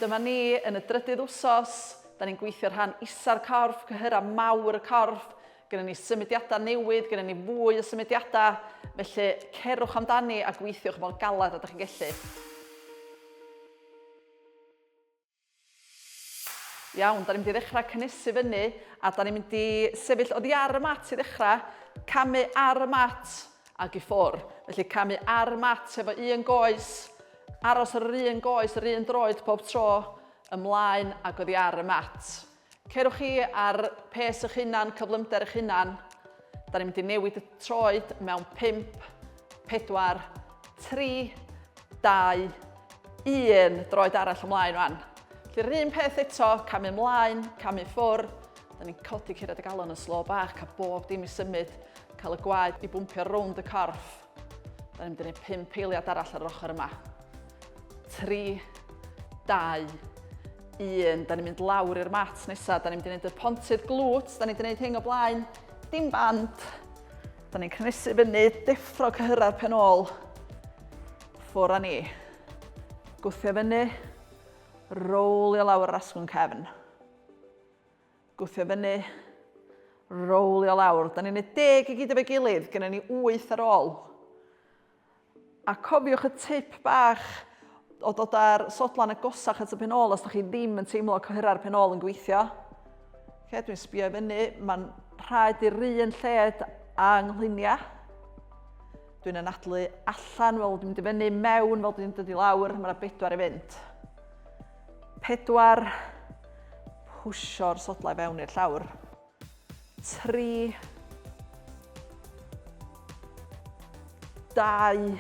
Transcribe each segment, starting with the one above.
Dyma ni yn y drydydd wsos. Da ni'n gweithio rhan isa'r corff, cyhyra mawr y corff. Gynna ni symudiadau newydd, gynna ni fwy o symudiadau. Felly cerwch amdani a gweithiwch mor galed ydych chi'n gallu. Iawn, da ni'n mynd i ddechrau cynnesu fyny a da ni'n mynd i sefyll oddi ar y mat i ddechrau, camu ar y mat ac i ffwr. Felly camu ar y mat efo un goes, aros ar yr un goes yr un droed pob tro, ymlaen ac oddi ar y mat. Cerwch chi ar pes eich hunan, cyflymder eich hunan. Da ni'n mynd i newid y troed mewn 5, 4, 3, 2, 1. Droed arall ymlaen rwan. Felly yr un peth eto, camu ymlaen, camu ffwr. Da ni'n codi curiad y galon yn slo bach, cael bob dim i symud, cael y gwaed i bwmpio rownd y corff. Da ni'n mynd i wneud pump eiliad arall ar yr ochr yma. Tri, dau, un. Da ni'n mynd lawr i'r mat nesaf. Da ni'n mynd i wneud y pontydd glwt. Da ni'n wneud hyn o blaen. Dim band. Da ni'n cynnesu fyny, deffro cyhyrra'r pen ôl. Ffwr a ni. Gwthio fyny. Rowlio lawr yr asgwrn cefn. Gwthio fyny. Rowlio lawr. Da ni'n gwneud deg i gyd efo'i gilydd, gynna ni wyth ar ôl. A cofiwch y tip bach o dod â'r sodlan agosach at y pen ôl os da chi ddim yn teimlo cohera'r pen ôl yn gweithio. Lle dwi'n sbio i fyny, mae'n rhaid i'r un lled a yngluniau. Dwi'n anadlu allan fel dwi'n mynd i fyny, mewn fel dwi'n dod i lawr, mae yna bedwar i fynd. 4, Pwsio'r sodlau fewn i'r llawr. 3, 2,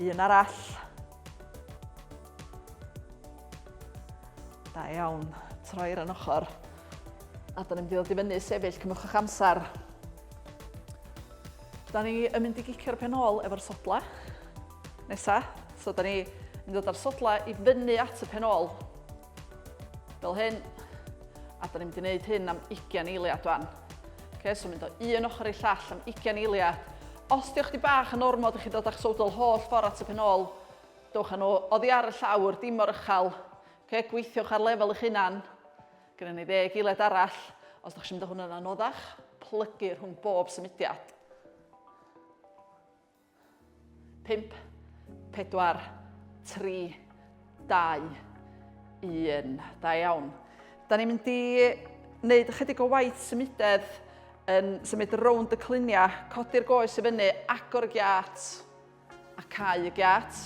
un arall. Da iawn, troi'r yn ochr. A da ni'n mynd i ddod i fyny sefyll, cymwch eich amser. Da ni yn mynd i gicio'r pen ôl efo'r sodlau. Nesa, so da ni yn dod â'r sodlau i fyny at y pen ôl. Fel hyn. A da ni'n mynd i wneud hyn am 20 eiliad wan. Okay, so mynd o un ochr i llall am 20 eiliad. Os diolch di bach yn ormod, ydych chi dod â'ch sodl holl ffordd at y pen ôl. Dewch â nhw oddi ar y llawr, dim o'r ychel. Okay, gweithiwch ar lefel eich hunan. Gyda ni ddeg eiliad arall. Os ydych chi'n mynd o hwn yn anoddach, plygu rhwng bob symudiad. 5, 4, 3, 2, 1. Da iawn. Da ni'n mynd i wneud ychydig o waith symudedd yn symud rownd y cluniau, codi'r goes i fyny, agor y giat a cau y giat.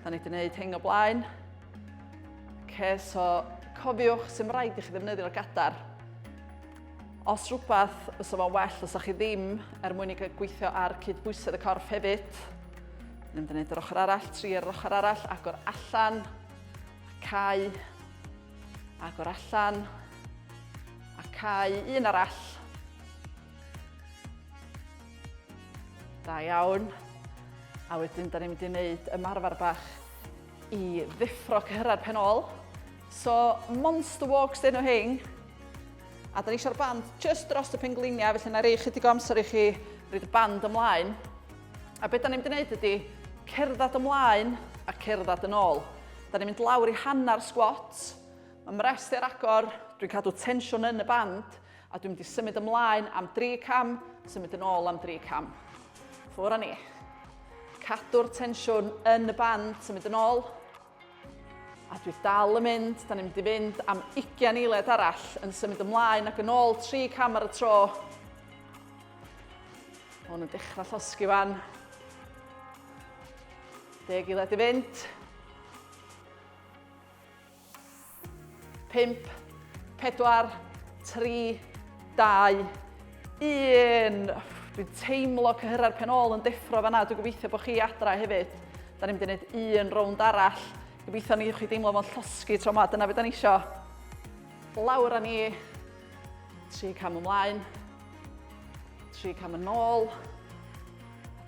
Da ni wedi gwneud hyn o blaen. Ce, so cofiwch sy'n rhaid i chi ddefnyddio'r gadar. Os rhywbeth, fysa fo'n well, fysa chi ddim er mwyn i gweithio ar cydbwysedd y corff hefyd. Yn mynd i wneud yr ochr arall, tri ar yr ochr arall, agor allan, cau, agor allan, a cau un arall. Da iawn. A wedyn, da ni'n mynd i wneud ymarfer bach I ddeffro cyhyrra'r pen ôl. So, monster walks dyn nhw hyn. A da ni eisiau'r band just dros y pengliniau, felly na rei chydig o amser i chi rhaid y band ymlaen. A beth da ni'n mynd i wneud ydy cerdded ymlaen a cerdded yn ôl. Da ni'n mynd lawr i hanner squat. Mae mrest i'r agor, dwi'n cadw tensiwn yn y band. A dwi'n mynd i symud ymlaen am dri cam, symud yn ôl am dri cam. Ffwr a ni. Cadw'r tensiwn yn y band, symud yn ôl. A dwi dal yn mynd, da ni'n mynd i fynd am 20 eiliad arall yn symud ymlaen ac yn ôl tri cam ar y tro. Mae hwn yn dechrau llosgi fan. Deg eiliad i fynd. 5, 4, 3, 2, 1. Dwi'n teimlo cyhyrau'r pen ôl yn deffro fanna. Dwi'n gobeithio bod chi adra hefyd. Da ni'n mynd i wneud un rownd arall. Gobeithio ni chi deimlo fo'n llosgi tro yma. Dyna beth da ni isio. Lawr a ni. Tri cam ymlaen. Tri cam yn ôl.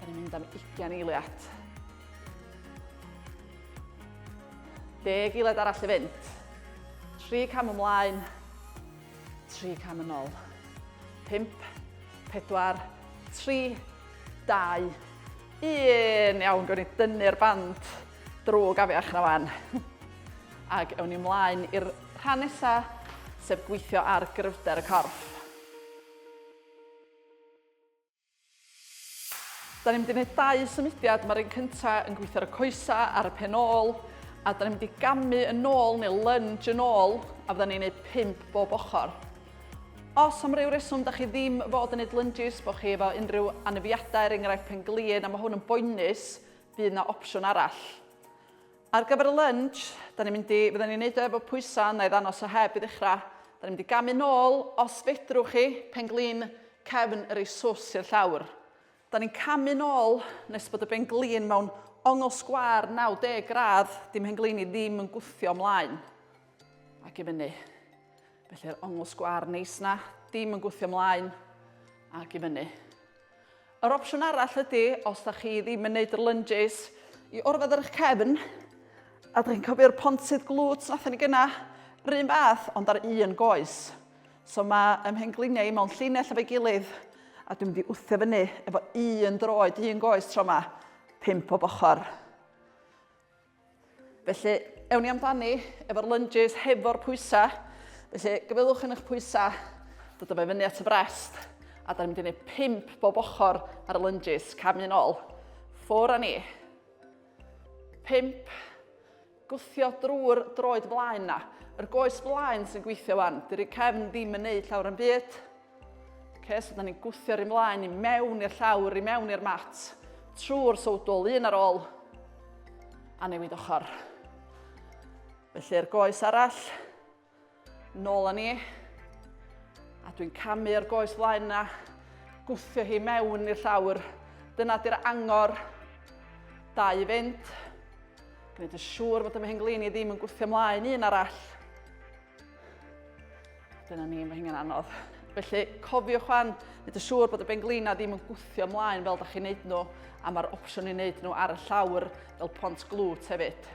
Da ni'n mynd am 20 eiliad. Deg eiliad arall i fynd. Tri cam ymlaen. Tri cam yn ôl. Pimp, pedwar, tri, dau, un. Iawn, gwn i dynnu'r band drwy gafiach na fan. Ac ewn ni ymlaen i'r rhan nesaf, sef gweithio ar gryfder y corff. Da ni'n mynd i wneud dau symudiad, mae'r un cyntaf yn gweithio ar y coesa ar y pen ôl, a da ni'n mynd i gamu yn ôl neu lunge yn ôl, a fydda ni'n gwneud pump bob ochr. Os am ryw reswm da chi ddim fod yn gwneud lunges, bod chi efo unrhyw anafiadau, er enghraifft pen glin, a mae hwn yn boenus, bydd yna opsiwn arall. Ar gyfer y lunch, da ni'n mynd i, fydden ni'n neud o efo pwysa, na i ddanos o heb i ddechra. Da ni'n mynd i gamu nôl, os fedrwch chi, pen-glin cefn yr ei swss i'r llawr. Da ni'n camu nôl nes bod y ben-glin mewn ongl sgwâr 90 gradd, dim hen-glin i ddim yn gwthio mlaen ac i fyny. Felly'r ongl sgwâr neis na, dim yn gwthio mlaen ac i fyny. Yr opsiwn arall ydy, os da chi ddim yn neud yr lunges, i orfod ar eich cefn, a da chi'n cofio'r pontydd glwt nathon ni gyna, rhywun fath, ond ar un goes. So mae ymhengliniau i mewn llinell efo'i gilydd, a dwi'n mynd i wthio fyny efo un droed, un goes tro yma, pimp o bochor. Felly, ewn ni amdani efo'r lunges hefo'r pwysau. Felly, gyfeilwch yn eich pwysau, dod o fe fyny at y brest, a da ni'n mynd i wneud pimp bob ochr ar y lunges, cam un ôl. Ffwr a ni. Pimp, gwthio drwy'r droed flaen na. Yr goes flaen sy'n gweithio wan, dy'r cefn ddim yn neud llawer yn byd. Ok, so da ni'n gwthio'r un mlaen i mewn i'r llawr, i mewn i'r mat, trwy'r sowdl, un ar ôl, a newid ochr. Felly'r goes arall, nôl â ni, a dwi'n camu'r goes flaen na, gwthio hi mewn i'r llawr. Dyna di'r angor, da i fynd. Gwneud yn siŵr fod y mhenglin i ddim yn gwthio mlaen un arall. Dyna ni, mae hynny'n anodd. Felly, cofiwch fan, nid y siŵr bod y benglina ddim yn gwthio ymlaen fel da chi'n neud nhw, a mae'r opsiwn i wneud nhw ar y llawr fel pont glwt hefyd.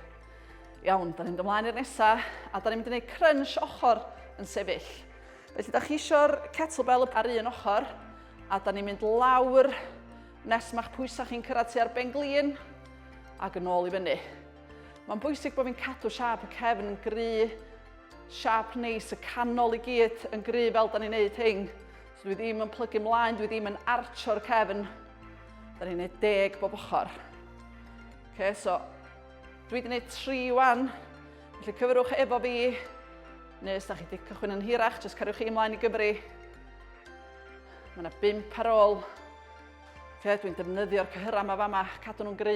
Iawn, da ni'n mynd ymlaen i'r nesaf, a da ni'n mynd i wneud crunch ochr yn sefyll. Felly, da chi eisiau'r kettlebell ar un ochr, a da ni'n mynd lawr nes mae'ch pwysau chi'n cyrraedd tua'r benglin, ac yn ôl i fyny. Mae'n bwysig bod fi'n cadw siap y cefn yn gry, siap neis y canol i gyd yn gry fel da ni'n neud hyn. So dwi ddim yn plygu mlaen, dwi ddim yn archo'r cefn. Da ni'n neud deg bob ochr. Okay, so dwi wedi gwneud tri wan. Felly cyfrwch efo fi, neu os da chi wedi cychwyn yn hirach, jyst cariwch chi ymlaen i Gymru. Mae yna bimp ar ôl. Okay, dwi'n defnyddio'r cyhyrau yma fama, cadw nhw'n gry.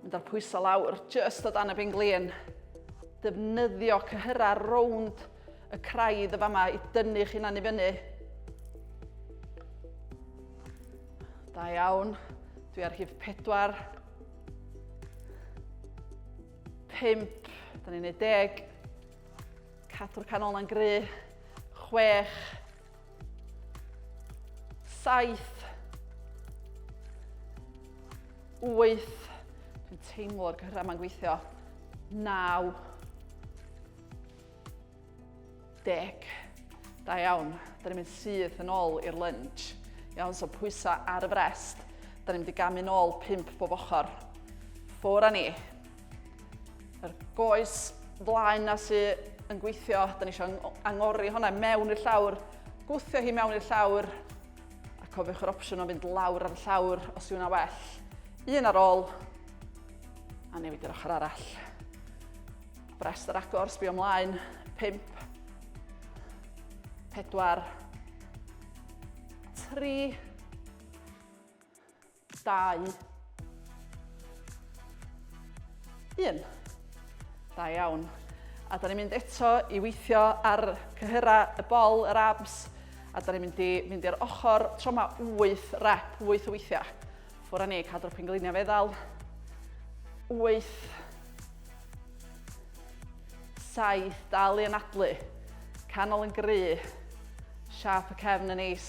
Mynd â'r pwyso lawr, just o dan y benglin. Defnyddio cyhyra rownd y craidd y fama i dynnu'ch hunan i fyny. Da iawn. Dwi ar hif 4. 5. Da ni'n neud deg. Cadw'r canol na'n gry. 6. Saith. Wyth. Dwi'n teimlo'r gyrra ma'n gweithio. Naw. Deg. Da iawn. Da ni'n mynd syth yn ôl i'r lunge. Iawn, so pwysau ar y frest. Da ni'n mynd i gamu'n ôl pimp bob ochr. Ffwr a ni. Yr goes flaen na sy yn gweithio, da ni eisiau angori hwnna mewn i'r llawr, gwthio hi mewn i'r llawr, a cofiwch yr opsiwn o fynd lawr ar y llawr os yw hwnna well. Un ar ôl, a newid yr ochr arall. Brest yr agor, sbio ymlaen, 5, 4, 3, Dau. Un. Da iawn. A da ni'n mynd eto i weithio ar cyhyrau y bol, yr abs, a da ni'n mynd i mynd i'r ochr tro yma 8 rep, 8 o weithiau. Ffwr ni, cadw'r pengliniau feddal. 8. 7, dal i anadlu. Canol yn gry. Siap y cefn yn neis.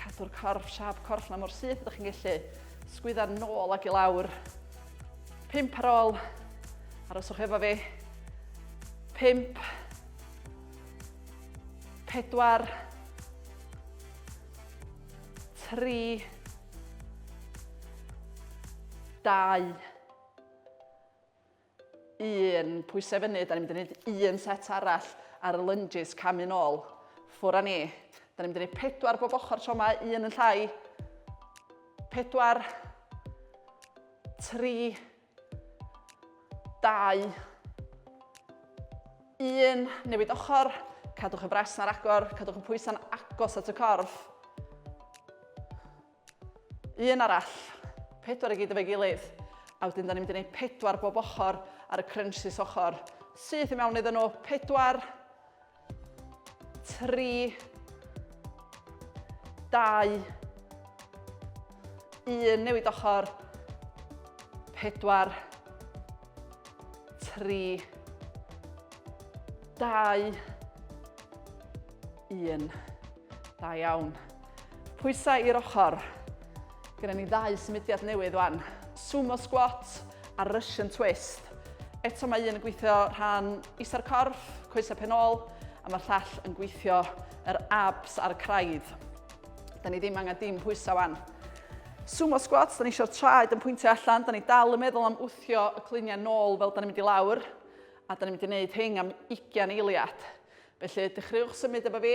Cadw'r corff, siap corff na mor syth ydych chi'n gallu. Sgwydda'r nôl ac i lawr. Pimp ar ôl. Aroswch efo fi. Pimp. Pedwar. Tri. Dau. un pwysau i fyny, da ni'n mynd i wneud un set arall ar y lunges, camu nôl, ffwr a ni. Da ni'n mynd i wneud pedwar bob ochr tro yma, un yn llai, pedwar, tri, dau, un, newid ochr, cadwch y bres na'r agor, cadwch y pwysau'n agos at y corff. Un arall. Pedwar i gyd efo'i gilydd. A wedyn da ni'n mynd i wneud pedwar bob ochr ar y crunches ochr. Syth i mewn iddyn nhw. Pedwar. Tri. Dau. Un. Newid ochr. Pedwar. Tri. Dau. Un. Da iawn. Pwysau i'r ochr. Gyda ni ddau symudiad newydd wan. Sumo squat a Russian twist. Eto mae un yn gweithio rhan isa'r corff, coesau pen ôl, a mae'r llall yn gweithio yr abs a'r craidd. Da ni ddim angen dim pwysau wan. Sumo squats, da ni eisiau'r traed yn pwyntio allan, da ni dal yn meddwl am wthio y cluniau nôl fel da ni'n mynd i lawr, a da ni'n mynd i wneud hyn am 20 eiliad. Felly, dechreuwch symud efo fi.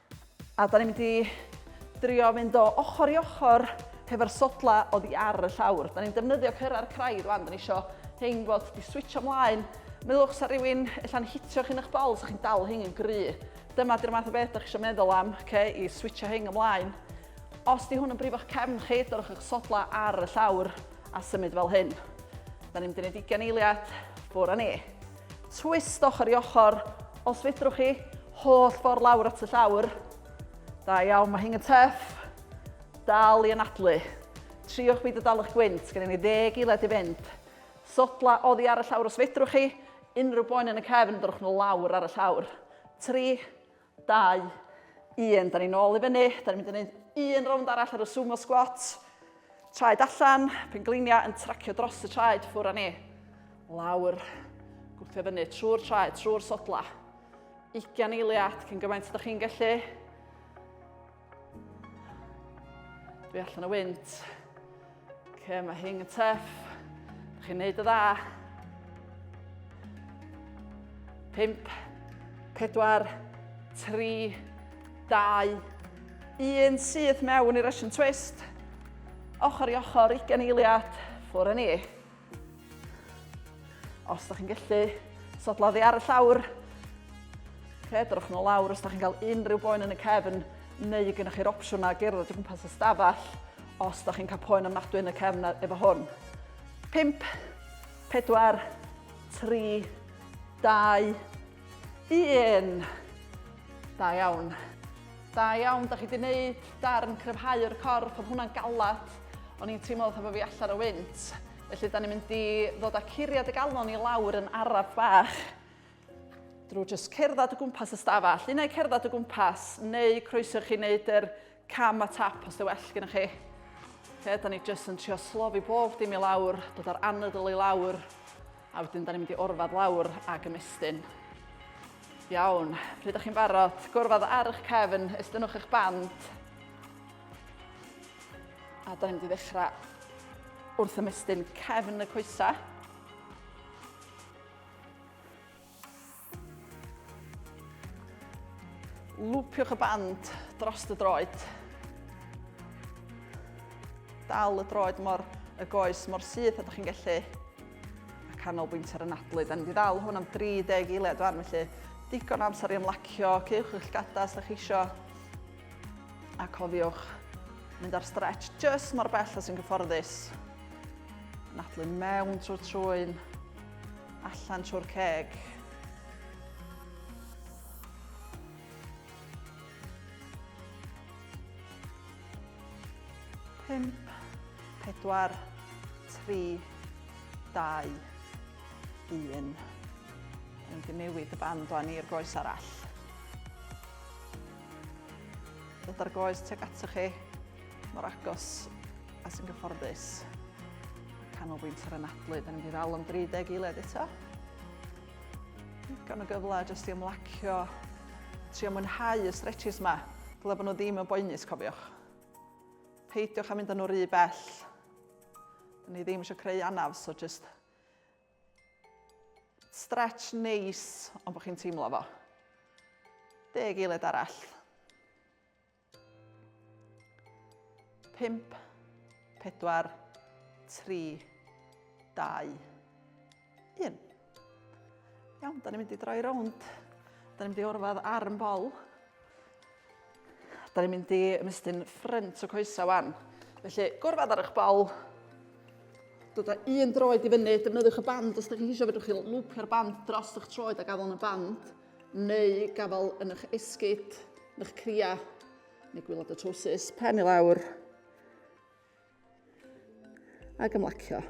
A da ni'n mynd i drio fynd o ochr i ochr hefo'r sodlau oddi ar y llawr. Da ni'n defnyddio cyrra'r craidd rwan, da ni isio hein fod di switcho mlaen. Meddylwch sa rhywun ella'n hitio chi'n eich bol, sa chi'n dal hein yn gry. Dyma di'r math o beth da chi isio meddwl am, ce, i switcho hein ymlaen. Os di hwn yn brifo'ch cefn chi, dorwch eich sodlau ar y llawr a symud fel hyn. Da ni'n mynd i wneud ugen eiliad, ffwr a ni. Twist ochr i ochr, os fedrwch chi, holl ffordd lawr at y llawr. Da iawn, mae hyn yn tuff. Dal i anadlu. Triwch byd o dal eich gwynt, gen i ni ddeg eiliad i fynd. Sodla oddi ar y llawr os fedrwch chi, unrhyw boen yn y cefn, dyrwch nhw lawr ar y llawr. Tri, 2, 1, da ni'n ôl i fyny, da ni'n mynd i wneud un rownd arall ar y sumo squat, traed allan, penglinia yn tracio dros y traed ffwr a ni, lawr, gwthio fyny trwy'r traed, trwy'r sodla, 20 eiliad cyn gymaint ydych chi'n gallu, Dwi allan o wynt. Ce, mae hyn yn teff. Dych chi'n neud y dda. Pimp, pedwar, tri, dau, un syth mewn i'r Russian twist. Ochr i ochr, ugen eiliad, ffwr â ni. Os da chi'n gallu, sodla ddi ar y llawr. Cedrwch nhw lawr os da chi'n cael unrhyw boen yn y cefn neu y gennych chi'r opsiwn na gerdded o gwmpas y stafell os da chi'n cael poen ymnadwy yn y cefn efo hwn. 5, 4, 3, 2, Un! Da iawn. Da iawn, da chi wedi gwneud darn cryfhau'r corff, oedd hwnna'n galad. O'n i'n teimlo fatha bod fi allan o wynt. Felly, da ni'n mynd i ddod â curiad y galon i lawr yn araf bach. Drwy jyst cerdded o gwmpas y stafell. Unai cerdded o gwmpas, neu croeso chi wneud yr Cam a tap os dy well gyda chi. Fe, da ni jyst yn trio slofi bob dim i lawr, dod o'r anadl i lawr, a wedyn da ni'n mynd i orfad lawr ag ymestyn. Iawn, pryd ydych chi'n barod, gorfod ar eich cefn, estynwch eich band. A da ni'n mynd i ddechrau wrth ymestyn cefn y coesau. Lwpiwch y band dros y droed. Dal y droed mor y goes mor syth a da chi'n gallu. A canolbwynt ar y nadlu. Da ni wedi ddal hwn am 30 eiliad fan, felly digon amser i ymlacio, cewch eich gadas da chi eisiau. A cofiwch mynd ar stretch jyst mor bell a sy'n gyfforddus. Nadlu mewn trwy'r trwyn, allan trwy'r ceg. Pump, pedwar, tri, dau, un. Yn mynd i newid y band o'n i'r goes arall. Dod ar goes tuag atoch chi, mor agos a sy'n gyfforddus. Canolbwynt ar anadlu, da ni'n mynd i ddal am 30 eiled eto. Gan o gyfle jyst i ymlacio, trio mwynhau y stretches yma. Dyle bod nhw ddim yn boenus, cofiwch. Peidiwch a mynd â nhw rhy bell. Da ni ddim eisiau creu anaf, so jyst Stretch neis, ond bod chi'n teimlo fo. Deg eiliad arall. Pimp, pedwar, tri, dau, un. Iawn, da ni'n mynd i droi rownd. Da ni'n mynd i orfod arm bol. Da ni'n mynd i ymestyn ffrynt y coesau wan. Felly, gorfod ar eich bol. Dod â un droed i fyny, defnyddiwch y band os ydych chi eisiau, fedrwch chi lwpio'r band dros eich troed a gafel yn y band, neu gafel yn eich esgyd, yn eich cria, neu gwylod y trowsus, pen i lawr, Ac ymlacio.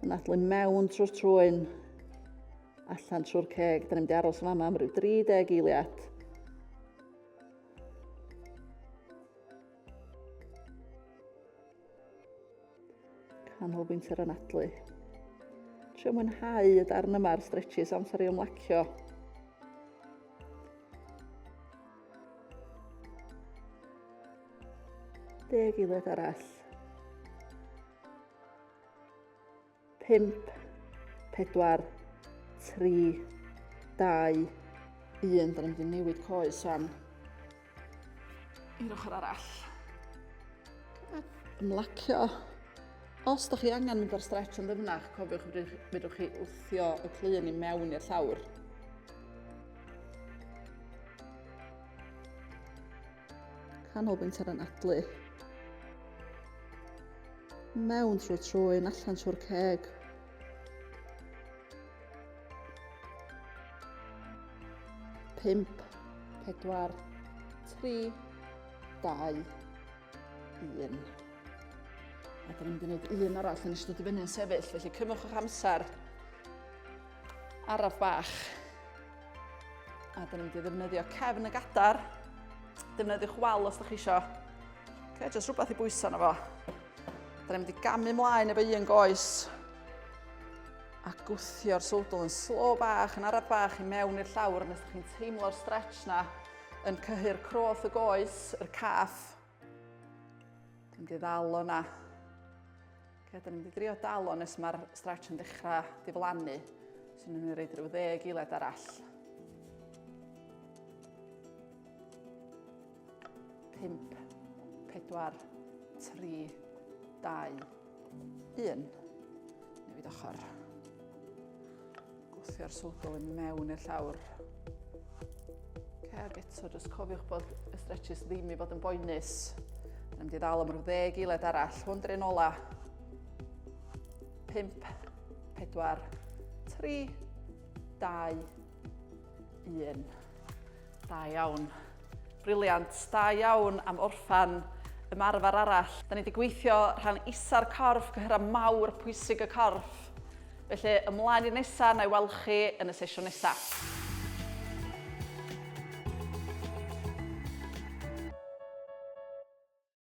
Yn adlu mewn trwy'r trwyn, allan trwy'r ceg. Da ni'n mynd i aros yma am rhyw 30 eiliad. canolbwynt yr anadlu. Trio mwynhau y darn yma ar stretches amser i ymlacio. Deg unwaith arall. Pimp, pedwar, tri, dau, un. Da ni'n mynd i newid coes fan. I'r ochr arall. Ymlacio. Os da chi angen mynd ar stretch yn ddyfnach, cofiwch fydwch chi wthio y clun i mewn i'r llawr. canolbwynt ar anadlu mewn trwy'r trwyn allan trwy'r ceg. Pimp, pedwar, tri, dau, un. A dyna mynd i wneud un arall yn ystod i fyny'n sefyll, felly cymwch o'ch amser. Araf bach. A dyn ni'n mynd i ddefnyddio cefn y gadar. Defnyddiwch wal os ydych chi isio. Okay, jyst rhywbeth i bwyso na fo. Dyn ni'n mynd i gamu mlaen efo un goes a gwthio'r sowdl yn slo bach, yn araf bach i mewn i'r llawr nes ydych chi'n teimlo'r stretch na yn cyhyr croth y goes, yr caff, Dwi'n mynd i ddal o'na. Okay, da ni'n mynd i drio dal o nes mae'r stretch yn dechrau diflannu. So ni'n mynd i reid rhyw ddeg eilad arall. 5, 4, 3, 2, 1. Newid ochr. Gwthio'r swgl yn mewn i'r llawr. Ac eto, jyst cofiwch bod y stretches ddim i fod yn boenus. Mae'n mynd i ddal am rhyw ddeg eiled arall. Hwn drin ola. 5, 4, 3, 2, 1. Da iawn. Briliant. Da iawn am orffan ymarfer arall. Da ni wedi gweithio rhan isa'r corff, cyhyrra mawr pwysig y corff. Felly ymlaen i'r nesaf, na i weld chi yn y sesiwn nesaf.